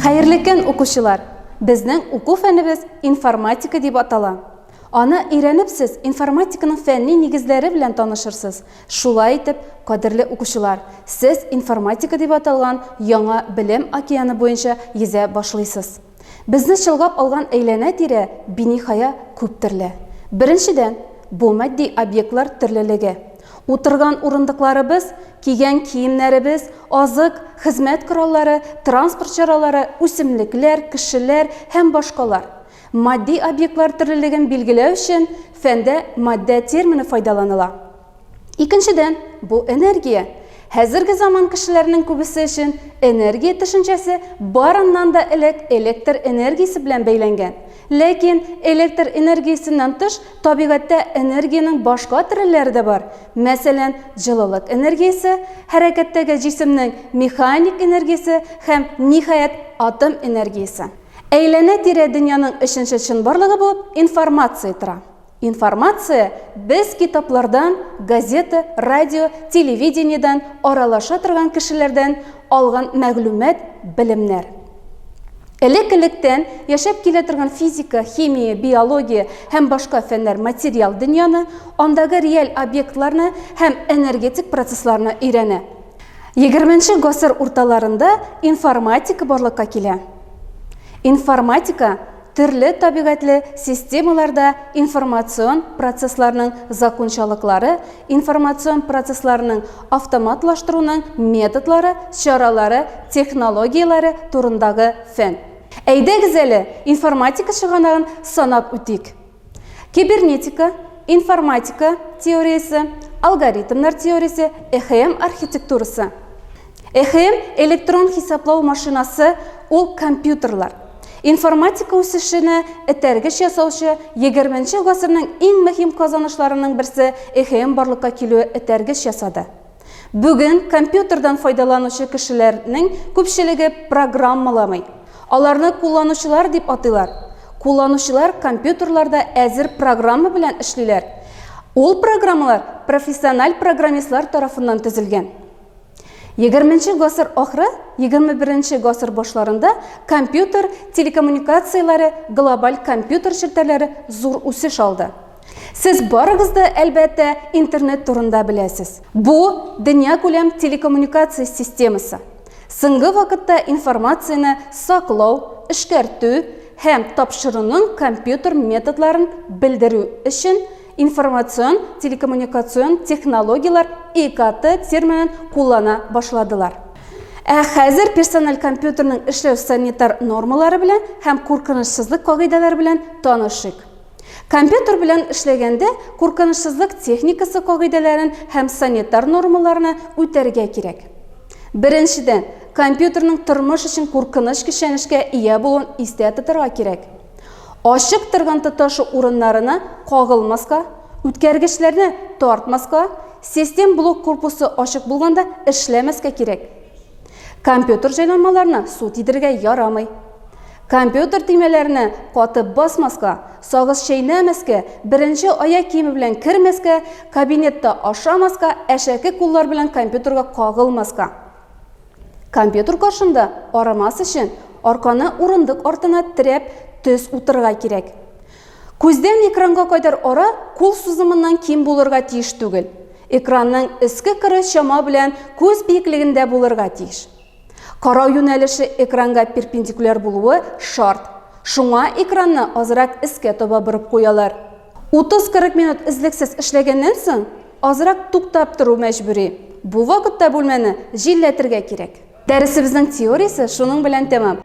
Хәерле укучылар! Безнең уку фәнебез информатика дип атала. Аны өйрәнеп сез информатиканың фәнни нигезләре белән танышырсыз Шулай итеп, кадерле укучылар, сез информатика дип аталган яңа белем океаны буенча йөзә башлыйсыз. Безне чолгап алган әйләнә-тирә биниһая күп төрле. Беренчедән, бу матди объектлар төрлелеге. Утырган урындыкларыбыз, кигән киемнәребез, азык, хезмәт кораллары, транспорт чаралары, үсемлекләр, кешеләр һәм башкалар. Матди объектлар төрлелеген билгеләү өчен фәндә матдә термины файдаланыла. Икенчедән, бу энергия. Хәзерге заман кешеләренең күбесе өчен энергия төшенчәсе барыннан да элек электр энергиясе белән бәйләнгән. Ләкин электр энергиясеннән тыш табигатьтә энергиянең башка төрлеләре дә бар. Мәсәлән, җылылык энергиясе, хәрәкәттәге җисемнең механик энергиясе һәм, ниһаять, атом энергиясе. Әйләнә-тирә дөньяның өченче чынбарлыгы булып информация тора. Информация без китаплардан, газета, радио, телевидениедән, аралаша торган кешеләрдән алган мәгълүмат, белемнәр. Элек-электән яшәп килә торган физика, химия, биология һәм башка фәннәр материал дөньяны, андагы реаль объектларны һәм энергетик процессларны өйрәнә. Егерменче гасыр урталарында информатика барлыкка килә. Информатика төрле табигатьле системаларда информацион процессларның закончалыклары, информацион процессларның автоматлаштыруның методлары, чаралары, технологияләре турындагы фән. Әйдәгез әле информатика чыганагын санап үтик. Кибернетика, информатика теориясе, алгоритмнар теориясе, ЭХМ архитектурасы. ЭХМ электрон хисаплау машинасы, ул компьютерлар. Информатика үсешенә этәргеч ясаучы 20 нче гасырның иң мөһим казанышларының берсе ЭХМ барлыкка килүе этәргеч ясады. Бүген компьютердан файдаланучы кешеләрнең күпчелеге программаламый. Аларны кулланучылар дип атыйлар. Кулланучылар компьютерларда әзер программа белән эшлиләр. Ул программалар профессиональ программистлар тарафыннан төзелгән. 20 гасыр ахыры, 21 гасыр башларында компьютер телекоммуникацияләре, глобаль компьютер челтәрләре зур үсеш алды. Сез барыгыз да, әлбәттә, интернет турында беләсез. Бу дөнья күләм телекоммуникация системасы. Соңгы вакытта информацияне саклау, эшкәртү һәм тапшыруның компьютер методларын белдерү өчен информацион телекоммуникацион технологияләр ИКТ терминын куллана башладылар. Ә хәзер персональ компьютерның эшләү санитар нормалары белән һәм куркынычсызлык кагыйдәләре белән танышыйк. Компьютер белән эшләгәндә куркынычсызлык техникасы кагыйдәләрен һәм санитар нормаларны үтәргә кирәк. Беренчедән, компьютерның тормыш өчен куркыныч көчәнешкә ия булуын истә тотарга кирәк. Ачык торган тоташу урыннарына кагылмаска, үткәргечләрне тартмаска, систем блок корпусы ачык булганда эшләмәскә кирәк. Компьютер җайланмаларына су тидерергә ярамый. Компьютер төймәләренә катып басмаска, сагыз чәйнәмәскә, беренче аяк киеме белән кермәскә, кабинетта ашамаска, әшәке куллар белән компьютерга кагылмаска. Компьютер каршында арымас өчен, арканы урындык артына терәп, төз утырырга кирәк. Күздән экранга кадәр ара кул сузымыннан ким булырга тиеш түгел. Экранның өске кыры чама белән күз биеклегендә булырга тиеш. Карау юнәлеше экранга перпендикуляр булуы шарт. Шуңа экранны азрак өскә таба борып куялар. 30-40 минут өзлексез эшләгәннән соң, азрак туктап тору мәҗбүри. Бу вакытта бүлмәне җилләтергә кирәк. Дәресебезнең теориясе шуның белән тәмам.